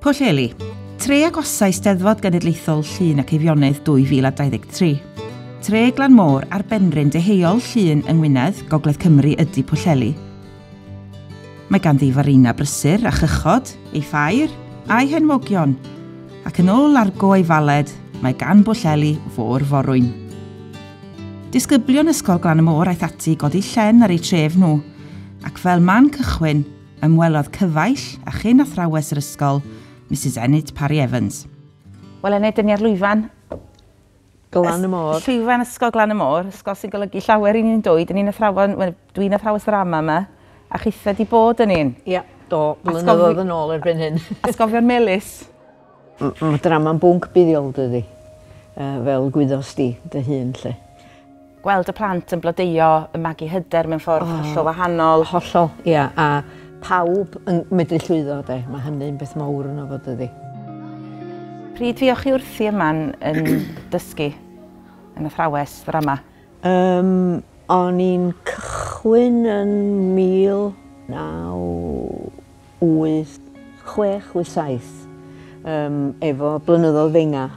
Pwllheli. Tre agosau Steddfod Genedlaethol Llŷn ac Eifionydd 2023. Tre Glan Môr ar benrhyn deheuol Llŷn yng Ngwynedd, Gogledd Cymru ydy Pwllheli. Mae ganddi farina brysur a chychod, ei ffair, a'i henwogion. Ac yn ôl argo ei faled, mae gan Bwllheli fôr forwyn. Disgyblion Ysgol Glan y Môr aeth ati i godi llen ar eu tref nhw, ac fel man cychwyn, Ymwelodd cyfaill â chyn athrawes yr ysgol, Misus Enid Parry Evans. Wel Enid, dyn ni ar lwyfan... Glan y Môr. Llwyfan Ysgol Glan y Môr, ysgol sy'n golygu llawer i ni yn dwy. Dyn ni'n athrawon, wel dwi'n athrawes ddrama yma, a chithe di bod yn un. Ia, do, blynyddoedd yn ôl erbyn hyn. Atgofion melys. Mae drama'n bwnc buddiol dydi? Fel gwyddos di dy hun 'lly. Gweld y plant yn blodeuo, yn magu hyder mewn ffordd hollol wahanol. Hollol, ia, a pawb yn medru llwyddo 'de, mae hynny'n beth mawr yno fo dydi? Pryd fuoch chi wrthi yma yn dysgu yn athrawes ddrama? Yym, o'n i'n cychwyn yn 19... wyth, chwech, wyth, saith, um, efo blynyddoedd fenga.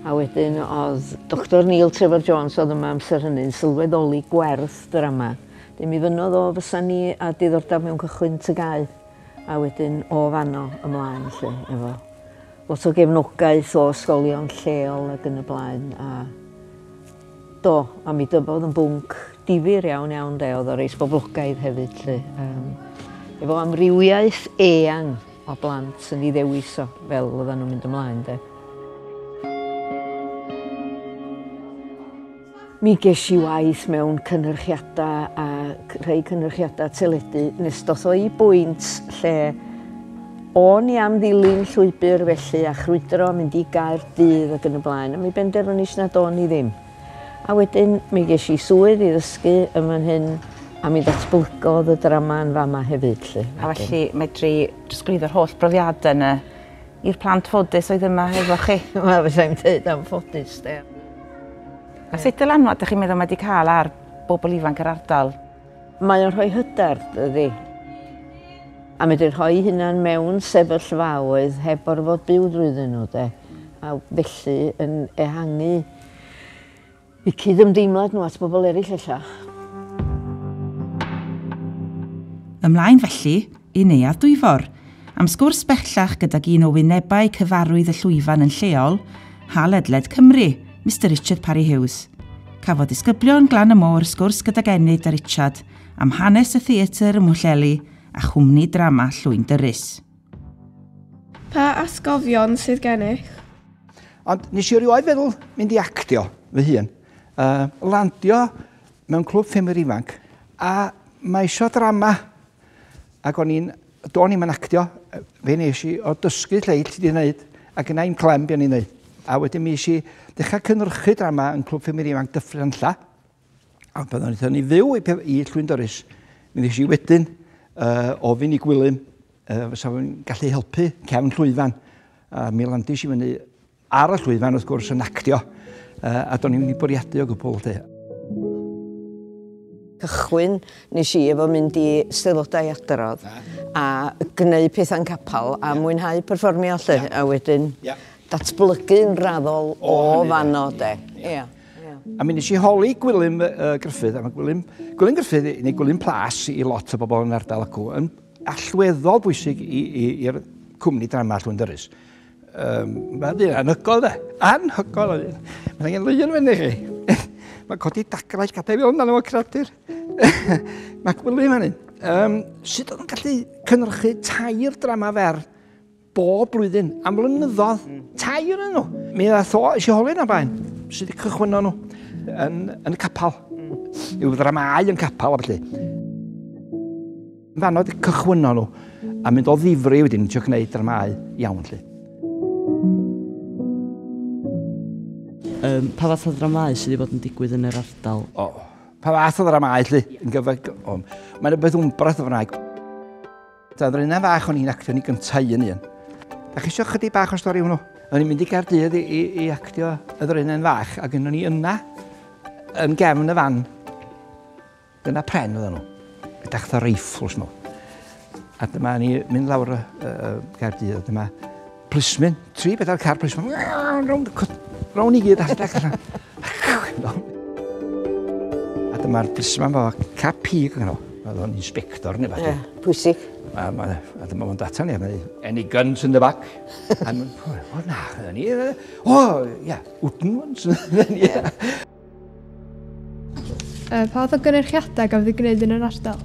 A wedyn oedd Dr Neil Trevor Jones oedd yma amser hynny'n sylweddoli gwerth drama. Dyn mi fynodd o fysa ni a diddordeb mewn cychwyn tygau a wedyn o fanno ymlaen lle efo lot o gefnogaeth o ysgolion lleol ac yn y blaen a Do, a mi dyfodd yn bwnc difyr iawn iawn de, oedd o reis boblogaidd hefyd lly. Um, efo amrywiaeth eang o blant yn ei ddewis o fel oedden nhw'n mynd ymlaen de. Mi ges i waith mewn cynhyrchiadau a rhai cynhyrchiadau teledu nes doth o'i bwynt lle O'n i am ddilyn llwybr felly a chrwydro mynd i Gaerdydd ac yn y blaen, ond mi benderfynis nad o'n i ddim. A wedyn mi ges i swydd i ddysgu yn fan hyn a mi ddatblygodd y drama yn fama hefyd 'lly. A felly medri trosglwyddo'r holl brofiadau yna i'r plant ffodus oedd yma hefo chi? Wel fysai i'n deud am ffodus 'de. A sut dylanwad 'dych chi'n meddwl mae 'di cael ar bobl ifanc yr ardal? Mae o'n rhoi hyder, dydi? A medru rhoi hunan mewn sefyllfaoedd heb gorfod byw drwyddyn nhw, de? A felly yn ehangu y cydymdeimlad nhw at bobl eraill ella. Ymlaen felly, i Neuadd Dwyfor, am sgwrs bellach gydag un o wynebau cyfarwydd y llwyfan yn lleol, ha ledled Cymru, Mister Richard Parry Hughes. Cafodd disgyblion Glan y Môr sgwrs gydag Enid a Richard am hanes y theatr ym Mhwllheli a chwmni drama Llwyn Dyrys. Pa atgofion sydd gennych? Ond nes i erioed feddwl mynd i actio fy hun. Uh, landio mewn clwb ffimwyr ifanc a mae eisiau drama Ac o'n i'n, do'n i'm yn actio, fe nes i o dysgu lleill ti di wneud, ac yna i'm clem be o'n i'n wneud. A wedyn mi eisiau dechrau cynrychu drama yn Clwb Ffimir Ifanc Dyffryn Anlla, a pan o'n i'n i fyw i, i Llwyn Doris, mi nes i wedyn uh, ofyn i Gwilym uh, fysa fo'n gallu helpu cefn llwyfan. A mi landis i fyny Ar y llwyfan wrth gwrs yn actio a do'n i'm wedi bwriadu o gwbl 'lly. cychwyn nes i efo mynd i steddodau adrodd a gneud pethau'n capal a mwynhau perfformio 'lly a wedyn datblygu'n raddol o fanno 'de. Ia. A mi nes i holi Gwilym Gruffydd a ma' Gwilym Gwilym Gruffydd neu Gwilym Plas i lot o bobl yn ardal acw yn allweddol bwysig i i'r cwmni drama Llwyndyrys. Um, mae ddyn anhygol da. Anhygol o ddyn. Mae'n angen lwyr yn fyny chi. Mae codi dagrau gadael fi ond o'n creadur. Mae gwylio fan hyn. Um, sut oedd yn gallu cynrychu tair drama fer bob blwyddyn am flynyddoedd, mm. tair yn nhw. Mi dda tho, eisiau holi na bain, sydd wedi cychwyn nhw yn, yn y capel. Mm. Yw ddramau yn capel, felly. Fanno di cychwynno nhw a mynd o ddifri wedyn trio gwneud dramau iawn lli. Um, pa fath o ddramau sydd wedi bod yn digwydd yn yr ardal? O, oh, pa fath o ddramau lli? Yn gyfag... Oh, Mae'n rhywbeth wmbrath o fwnaeg. Da ddrina fach o'n i'n actio ni gyntaf un un. Da chi eisiau chydig bach o stori hwnnw? O'n i'n mynd i Gardydd i, i, i actio y ddrina'n fach ac o'n i yna yn gefn y fan Dyna pren oedden nhw. Edrych fatha reifls nhw. A dyma ni mynd lawr y uh, Gaerdydd. Dyma plismyn, tri bedair car plismyn. Rown i gyd allan. A dyma'r plismyn fo cap pig yn nhw. Oedd o'n inspector neu fath. Pwysig. A, ma, a dyma fo'n data ni. Any guns in the back? o na, ni. O, ia, wooden ones. Uh, pa oedd y gynnyrchiadau gafodd ei gwneud yn yr ardal?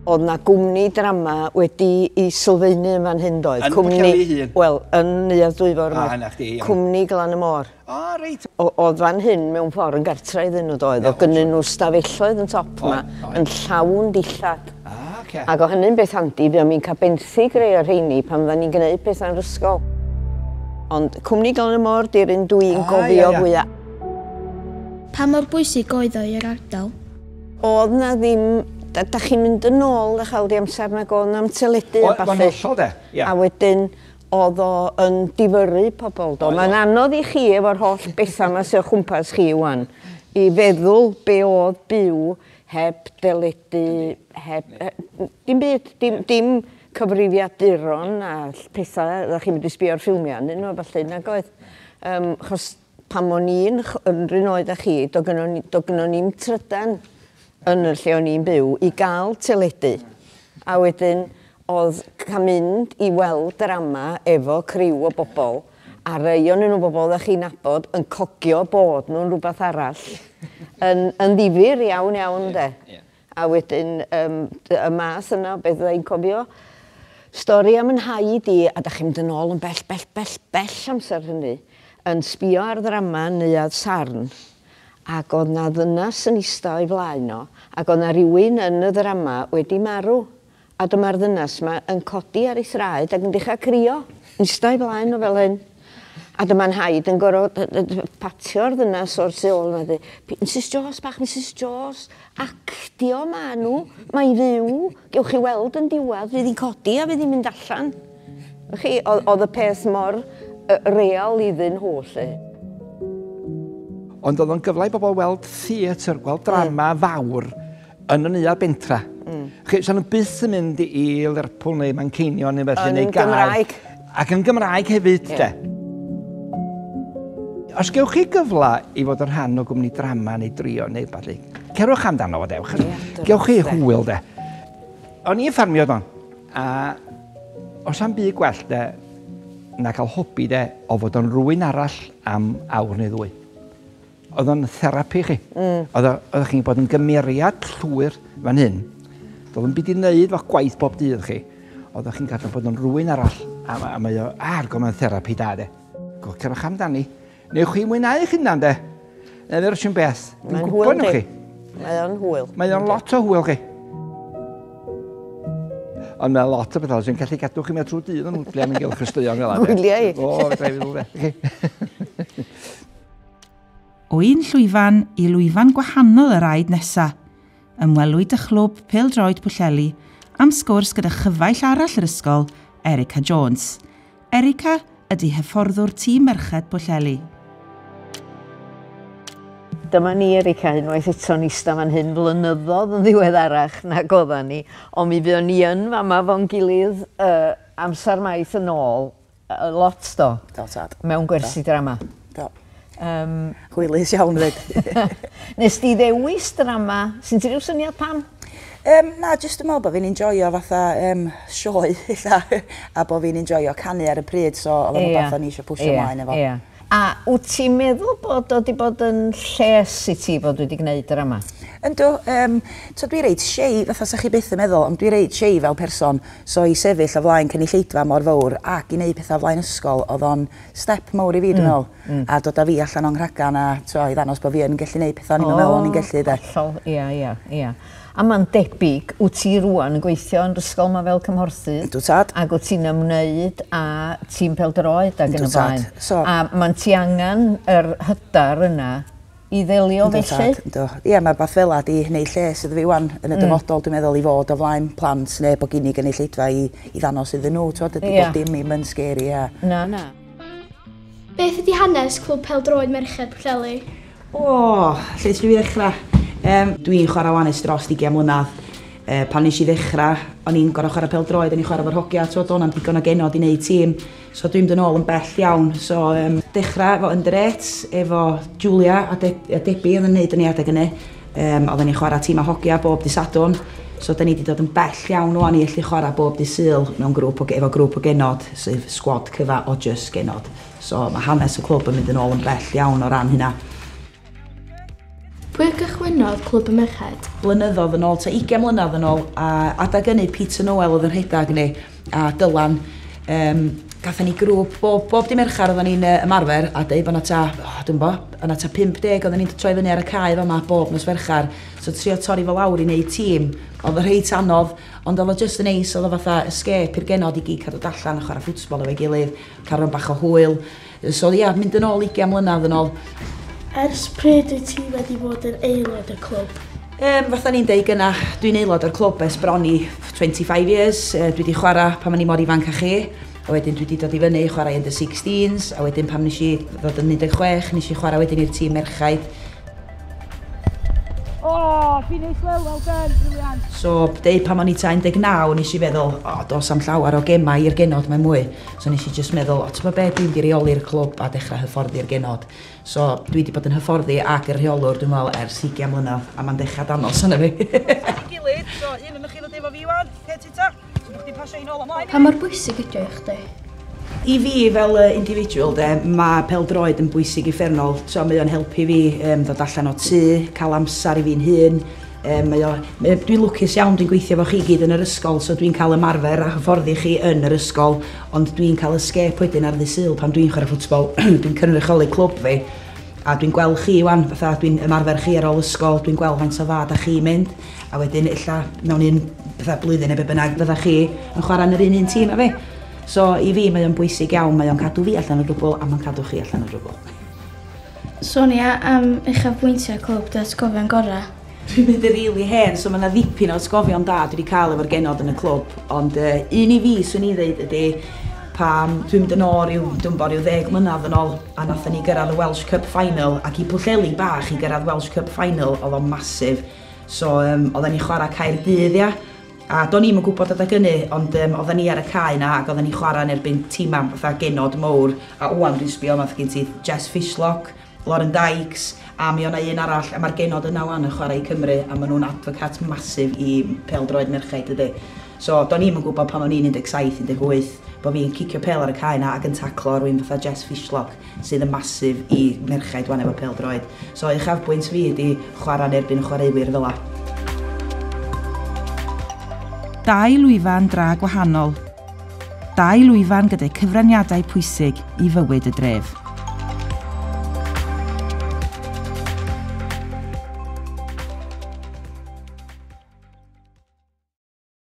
Oedd na gwmni drama wedi i sylfaenu yn fan hyn doedd? Yn cwmni... hun? Wel, yn Neuadd Dwyfor. Ah, yna chdi, iawn. Cwmni Glan y Môr. O, oh, reit. Oedd fan hyn mewn ffordd yn gartra iddyn nhw doedd, o gynnyn nhw stafelloedd yn top yma, yn llawn dillad. Oce. Ac o hynny'n beth handi, buom ni'n cael benthyg rei o'r rheini pan fyddan ni'n gneud pethau yn yr ysgol. Ond cwmni Glan y Môr 'di'r un dw i'n gofio fwya'. Pa mor bwysig oedd o i'r ardal? O'dd 'na ddim, da- dach chi'n mynd yn ôl dych ch'wel' i amser nag o'dd 'na'm teledu a ballu. O'n hollol 'de, ia. A wedyn o'dd o yn difyrru pobol do. Mae'n anodd i chi efo'r holl betha 'ma sy o chwmpas chi ŵan i feddwl be' o'dd byw heb deledu, heb yy n- dim byd, dim dim cyfrifiaduron a ll- petha oddach chi'n mynd i sbio ar ffilmia arnyn n'w a ballu nag oedd? Yym 'chos pan o'n i'n ch- yn 'r un oed â chi do' gynno ni do' gynno ni'm trydan yn y lle o'n i'n byw i ga'l teledu a wedyn Oedd cam mynd i weld drama efo criw o bobl, a rei onyn nhw bobl oeddech chi'n nabod, yn cogio bod nhw'n rhywbeth arall, yn, yn ddifyr iawn iawn ynde. Yeah, yeah. A wedyn um, y math yna o beth fydda i'n cofio. Stori am yn haid i, a da chi'n mynd yn ôl yn bell, bell, bell, bell amser hynny, yn sbio ar ddrama neuad sarn, ac oedd na ddynas yn eista o'i flaen o, ac oedd na rywun yn y ddrama wedi marw, A dyma'r ddynas 'ma yn codi ar ei thraed ac yn dechra crio, ista'i flaen o fel hyn. A dyma Nhaid yn gor'o' yy yy yy patio'r ddynas o'r tu ôl 'na deu', Misus Jones bach, Misus Jones, actio ma' nw, mae'n fyw, gewch chi weld yn diwadd, fydd 'i'n codi a fydd 'i'n mynd allan. Wch chi, o'dd o'dd y peth mor yy real iddyn nhw 'lly. Ond o'dd o'n gyfle i bobol weld theatr, gweld drama fawr. Yn y neuadd bentra. Mm. Chi, sa'n nhw byth yn mynd i Lerpwl neu Manceinion neu felly, neu gael... Yn Gymraeg. Ac yn Gymraeg hefyd, yeah. de. Os gewch chi gyfle i fod yn rhan o gwmni drama neu drio neu falle, cerwch amdano fo dewch. Gewch chi hwyl de. O'n i'n ffarmio don, a os am byd gwell de, na cael hobi de, o fod o'n rwy'n arall am awr neu ddwy. Oedd o'n therapi chi. Mm. Oedd o, oedd chi'n bod yn gymeriad llwyr fan hyn. Doedd o'n byd i wneud fo gwaith bob dydd chi. Oedd chi'n gallu bod yn rwy'n arall. A, a mae o ar gofyn therapi da, de. Gwch cerwch amdani. Neu chi mwynhau eich hunan, de. Neu ddewr sy'n beth. Mae'n hwyl, chi. Mae o'n hwyl. Mae o'n lot o hwyl, chi. Ond mae lot o bethau sy'n gallu gadw chi mewn trwy dydd yn hwtliau yn gylch ysteion fel yna. Hwtliau? O, fe drefyd o fe. O un llwyfan i lwyfan gwahanol yr aed nesa, ymwelwyd â chlwb pêl-droed Pwllheli am sgwrs gyda chyfaill arall yr ysgol, Erica Jones. Erica ydy hyfforddwr tîm merched Pwllheli. Dyma ni, Erica, unwaith eto yn eista fan hyn flynyddodd yn ddiweddarach na godda ni, ond mi fuon ni yn fama fo'n gilydd uh, amser maith yn ôl, Lot do. Do tad. Mewn gwersi drama. Do. Um, Hwylus iawn fyd. Nes di ddewis drama, sy'n ti rhyw syniad pam? Um, na, jyst yn meddwl bod fi'n enjoyo fatha um, sioe, illa, a bod fi'n enjoyo canu ar y pryd, so oedd o'n yeah. fath o'n i eisiau pwysio yeah. mlaen efo. Yeah. A wt ti'n meddwl bod o 'di bod yn lles i ti fod wedi gwneud yr yma? Yndw, yym, t'od dwi reit shy, fatha 'sa chi byth yn meddwl, ond dwi reit shy fel person, so i sefyll o flaen cynulleidfa mor fowr ac i neud petha o flaen ysgol o'dd o'n step mowr i fi dwi'n meddwl. Mm, mm. A dod a fi allan o'n nghragan a t'wo' i ddangos bo' fi yn gellu neud petha o'n i'm yn meddwl o'n i'n gellu 'de. O, hollol, ia, ia, ia. A mae'n debyg, wyt ti rŵan yn gweithio yn yr ysgol yma fel cymhorthydd? Yndw tad. Ac wyt ti'n ymwneud â tîm pêl-droed ac yn y blaen? Yndw tad. So... A mae'n ti angen yr hyder yna i ddelio felly? Yndw tad, yndw. Ie, mae rhywbeth fel 'na 'di wneud lles iddo fi 'wan yn y dyfodol dwi'n meddwl i fod o flaen plant neu bod gin i gynulleidfa i i ddangos iddyn nhw t'wod dydi... Ia. ...bob dim ddim yn scary a... Na, na. Beth ydi hanes Clwb Pêl-droed Merched Pwllheli? O! Lle dw i ddechrau? Yym, dw i'n chwarae 'wan ers dros ugain mlynedd. Yy, pan wnes i ddechrau, o'n i'n gorfod chwarae pêl-droed, o'n i'n chwarae efo'r hogia, tibod, doedd 'na'm digon o genod i wneud tîm. So dwi'n mynd yn ôl yn bell iawn. So, yym, dechrau efo under eights, efo Julia a De- a Debbie oedd yn wneud y ni adeg hynny. Yym, oedden ni'n chwarae tîmau hogia bob dydd Sadwrn. So dan ni 'di dod yn bell iawn 'wan i allu chwarae bob dydd Sul mewn grŵp o ge- efo grŵp o genod, sef sgwad cyfa o jyst genod. So, mae hanes y clwb yn mynd yn ôl yn bell iawn o ran hynna. Pwy gychwynnodd Clwb y Merched? Blynyddodd yn ôl, ta 20 mlynedd yn ôl, a adag ynny Peter Noel oedd yn rhedag ni, a Dylan. Um, gathen ni grŵp, bob, bob di merchar oedden ni'n uh, ymarfer, a dweud bod yna ta, oh, dwi'n bo, yna ta 50 oedden ni'n troi fyny ar y cae yma bob nos ferchar. So trio torri fo lawr i wneud tîm, oedd y rheit anodd, ond oedd o just yn neis, oedd o fatha escape i'r genod i gyd cadw dallan a chwarae ffwtsbol efo'i gilydd. Caron bach o hwyl. So ia, mynd yn ôl 20 mlynedd yn ôl. Ers pryd wyt ti wedi bod yn aelod y clwb? Um, fatha ni'n deud gyna, dwi'n aelod o'r clwb ers bron i 25 years. Uh, dwi wedi chwarae pan o'n i mor ifanc a chi. A wedyn dwi wedi dod i fyny i chwarae yn the 16s. A wedyn pam nes i ddod yn 16, nes i chwarae wedyn i'r tîm merchaid. O, fi'n ei wel, wel done, briliant. So, deu pan o'n i ta 19, nes i feddwl, o, dos am llawer o gemau i'r genod, mae mwy. So nes i just meddwl, o, ti'n bod be, dwi'n di reoli'r clwb a dechrau hyfforddi'r genod. So, dwi di bod yn hyfforddi ac yr rheolwr, dwi'n meddwl, ers 20 mlynedd, a mae'n dechrau danos yna fi. Gilydd, so, un yn chi ddod efo fi, Iwan, Ta, ti'n bod chdi pasio hi'n ôl am laen? Pa mor bwysig ydio i chdi? I fi fel uh, individual de, mae peldroed yn bwysig i ffernol. So, mae o'n helpu fi um, ddod allan o tŷ, cael amser i fi'n hun. Um, mae o, mae, dwi'n lwcus iawn, dwi'n gweithio fo chi gyd yn yr ysgol, so dwi'n cael ymarfer a hyfforddi chi yn yr ysgol, ond dwi'n cael ysgep wedyn ar ddisyl pan dwi'n chwarae ffwtbol, dwi'n cynrychioli clwb fi, a dwi'n gweld chi wan, fatha dwi'n ymarfer chi ar ôl ysgol, dwi'n gweld faint o dda da chi mynd, a wedyn ella mewn un, fatha blwyddyn neu be' bynnag, fyddach chi yn chwarae yn yr un un tîm â fi. So i fi mae o'n bwysig iawn, mae o'n cadw fi allan o drwbwl a mae'n cadw chi allan o drwbwl. Sonia am uchafbwyntiau clwb dy atgofion gorau? Dwi'n mynd yn rili hen, so mae yna ddipyn o atgofion da dwi wedi cael efo'r genod yn y clwb, ond uh, un i fi swn i ddeud ydy pam dwi'n mynd yn ôl rhyw, dwi'n bod rhyw ddeg mlynedd yn ôl, a nathon ni gyrraedd y Welsh Cup Final, ac i Pwllheli bach i gyrraedd Welsh Cup Final oedd o'n masif. So um, oedden ni'n chwarae Caerdydd, ia? A do'n i'm yn gwybod adag ynny, ond um, oedden ni ar y cae na ac oedden ni'n chwarae yn erbyn tîmau fatha genod mowr. A wwan dwi'n sbio yma, gen ti Jess Fishlock, Lauren Dykes, a mi o'na un arall, a mae'r genod yna wwan yn chwarae i Cymru, a maen nhw'n advocat masif i pel-droed merchaid, dydy. So, do'n i'm yn gwybod pan o'n i'n 17, 18, bo' fi'n cicio pêl ar y cae 'na ac yn taclo rywun fatha Jess Fishlock, sydd yn massive i merchaid 'wan efo pêl-droed. So, uchafbwynt fi ydi chwarae yn erbyn y chwaraewyr fel 'a. Dau lwyfan dra gwahanol. Dau lwyfan gyda'u cyfraniadau pwysig i fywyd y dref.